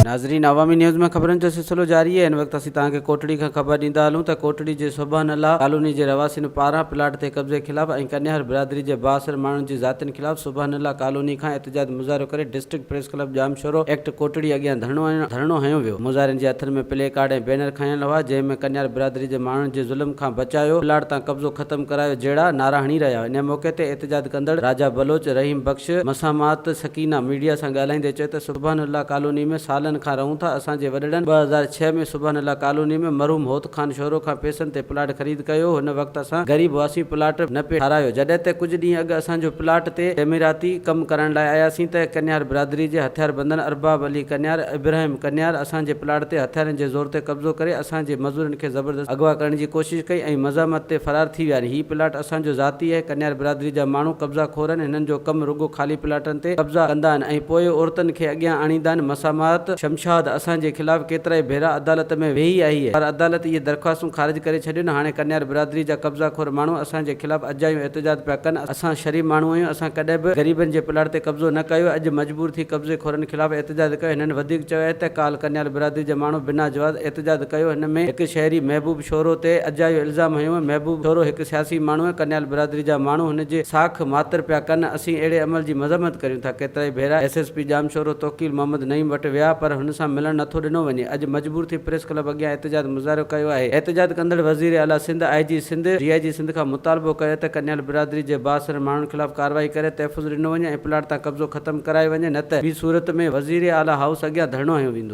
ناظرين عوامي نيوز ۾ خبرن جو سلسلو جاري هن وقت اسين توهان کي ڪوٽڙي کان خبر ڏيندا هلون ته ڪوٽڙي جي سبحان الله ڪالوني جي رهواسين پاران پلاٽ تي قبضي خلاف ۽ ڪنيهر برادري جي بااثر ماڻهن جي ذاتين خلاف سبحان الله ڪالوني کان احتجاج مظاهرو ڪري district press club Jamshoro ايڪٽ ڪوٽڙي اڳيان ڌرڻو هنيو ويو، مظاهرين جي هٿن ۾ پلي ڪارڊ ۽ بينر کنيل هئا، جنهن ۾ ڪنيار برادري جي ماڻهن جي ظلم کان بچايو، پلاٽ تان قبضو ختم ڪرايو جهڙا نعرا هڻي رهيا هئا، انهيء موقعي تي احتجاج ڪندڙ راجا بلوچ، رحيم بخش، مسامات سڪينه ميڊيا سان ڳالهائيندي چيو ته سبحان الله ڪالوني ۾ سالن کان رهون ٿا، اسان جي وڏڙن ٻه هزار ڇهه ۾ سبحان الله ڪالوني ۾ مرحوم هوت. خان شورو کان پئسن تي پلاٽ خريد ڪيو هن وقت اسان غريب هئاسين پلاٽ نه پئي ٺارايو جڏهن ته ڪجهه ڏينهن اڳ اسان جو پلاٽ تي تعميراتي ڪم ڪرڻ لاء آياسين ته ڪنيار برادري جي هٿيار بندن ارباب علي ڪنيار ابراهيم ڪنيار اسان جي پلاٽ تي هٿيارن جي زور تي قبضو ڪري اسان جي مزورن کي زبردست اغوا ڪرڻ جي ڪوشش ڪئي ۽ مزاحمت تي فرار ٿي ويا آهن هي پلاٽ اسان جو ذاتي آهي، ڪنيار برادري جا ماڻهو قبضا خور آهن، هنن جو ڪم رڳو خالي پلاٽن تي قبضا ڪندا آهن ۽ پوء عورتن کي اڳيان آڻيندا آهن، مسامات شمشاد اسان جي خلاف ڪيترائي ڀيرا عدالت ۾ ويهي آهي پر عدالت اهي درخواستون خارج ڪري ڇڏيون، هاڻي ڪنيار برادري جا قبضا خور ماڻهو اسان جي خلاف اجايون احتجاج پيا ڪن، اسان شريف ماڻهو آهيون، اسان ڪڏهن به غريبن جي پلاٽ تي قبضو نه ڪيو، اڄ مجبور ٿي قبضي خورن خلاف احتجاج ڪيو، هنن وڌيڪ چيو آهي ته ڪالهه ڪنيار برادري جا ماڻهو بنا جواز احتجاج ڪيو، هن ۾ هڪ شهري محبوب. شورو تي اجايو الزام هنيو، محبوب شورو هڪ سياسي ماڻهو ۽ ڪنيال برادري جا ماڻهو هن جي ساک ماتر پيا ڪن، اسين اهڙي عمل جي مذمت ڪريون ٿا، ڪيترائي ڀيرا S S P Jamshoro Tauqeel Muhammad Naeem وٽ ويا پر هن سان ملڻ نه ٿو ڏنو وڃي، اڄ مجبور ٿي پريس ڪلب اڳيان احتجاج مظاهرو ڪيو آهي، احتجاج ڪندڙ وزير اعليٰ سنڌ، آء جي سنڌ، ڊي آء جي سنڌ کان مطالبو ڪيو ته ڪنيال برادري جي بااثر ماڻهن خلاف ڪارروائي ڪري تحفظ ڏنو وڃي ۽ پلاٽ تان قبضو ختم ڪرايو وڃي نه ته ٻي صورت ۾ وزير اعليٰ هائوس اڳيان ڌرڻو هنيو ويندو.